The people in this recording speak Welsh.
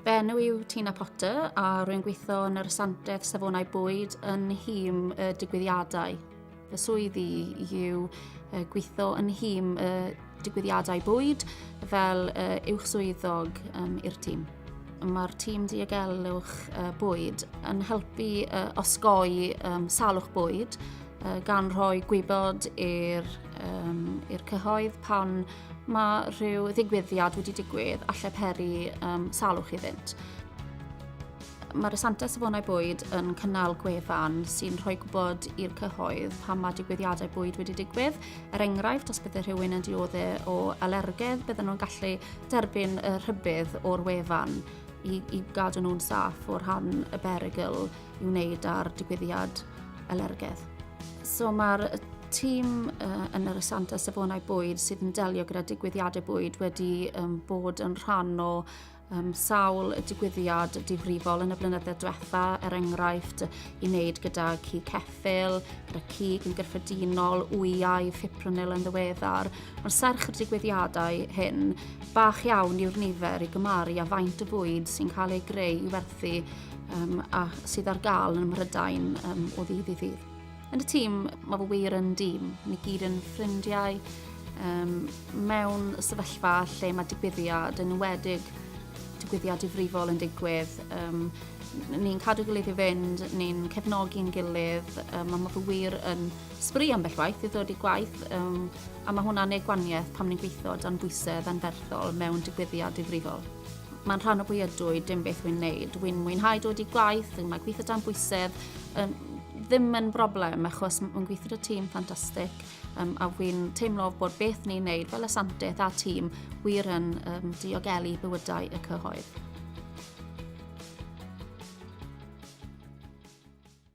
Fy enw yw Tina Potter a rwy'n gweithio yn yr Asantaeth Safonau Bwyd yn nhîm y digwyddiadau. Fy swyddi yw gweithio yn nhîm y digwyddiadau bwyd fel uwch swyddog um, i'r tîm. Mae'r tîm diogelwch uh, bwyd yn helpu uh, osgoi um, salwch bwyd uh, gan rhoi gwybod i'r um, cyhoedd pan Mae rhyw ddigwyddiad wedi digwydd a lle peri um, salwch iddynt. Mae'r Asanta Safonau Bwyd yn cynnal gwefan sy'n rhoi gwybod i'r cyhoedd pan mae digwyddiadau bwyd wedi digwydd. Er enghraifft, os byddai rhywun yn diodde o alergedd, bydden nhw'n gallu derbyn y rhybydd o'r wefan i, i gadw nhw'n saff o'r rhan y berygl i wneud ar digwyddiad alergedd. So mae'r tîm uh, yn yr Asanta Safonau Bwyd sydd yn delio gyda digwyddiadau bwyd wedi um, bod yn rhan o um, sawl digwyddiad difrifol yn y blynydde diwetha, er enghraifft i wneud gyda ci ceffil, gyda cig yn gyffredinol, wyau, fipronil yn ddiweddar. Mae'r serch y digwyddiadau hyn bach iawn yw'r nifer i gymaru a faint y bwyd sy'n cael ei greu i werthu um, a sydd ar gael yn Mhrydain um, o ddydd i ddydd. Yn y tîm, mae fy wir yn dîm. Ni gyd yn ffrindiau um, mewn sefyllfa lle mae digwyddiad yn wedig digwyddiad difrifol yn digwydd. Um, ni'n cadw gilydd i fynd, ni'n cefnogi'n gilydd, um, a mae fy wir yn sbri ambell waith i ddod i gwaith, um, a mae hwnna'n ei gwaniaeth pam ni'n gweithio dan bwysedd anferthol mewn digwyddiad difrifol. Mae'n rhan o pwy ydw i, dim beth wy'n neud. Wy'n mwynhau dod i gwaith, yn mae gweithio dan bwysedd, um, ddim yn broblem achos mae'n gweithio y tîm ffantastig um, a wy'n teimlo bod beth ni'n neud fel asantaeth a tîm wir yn um, diogelu bywydau y cyhoedd.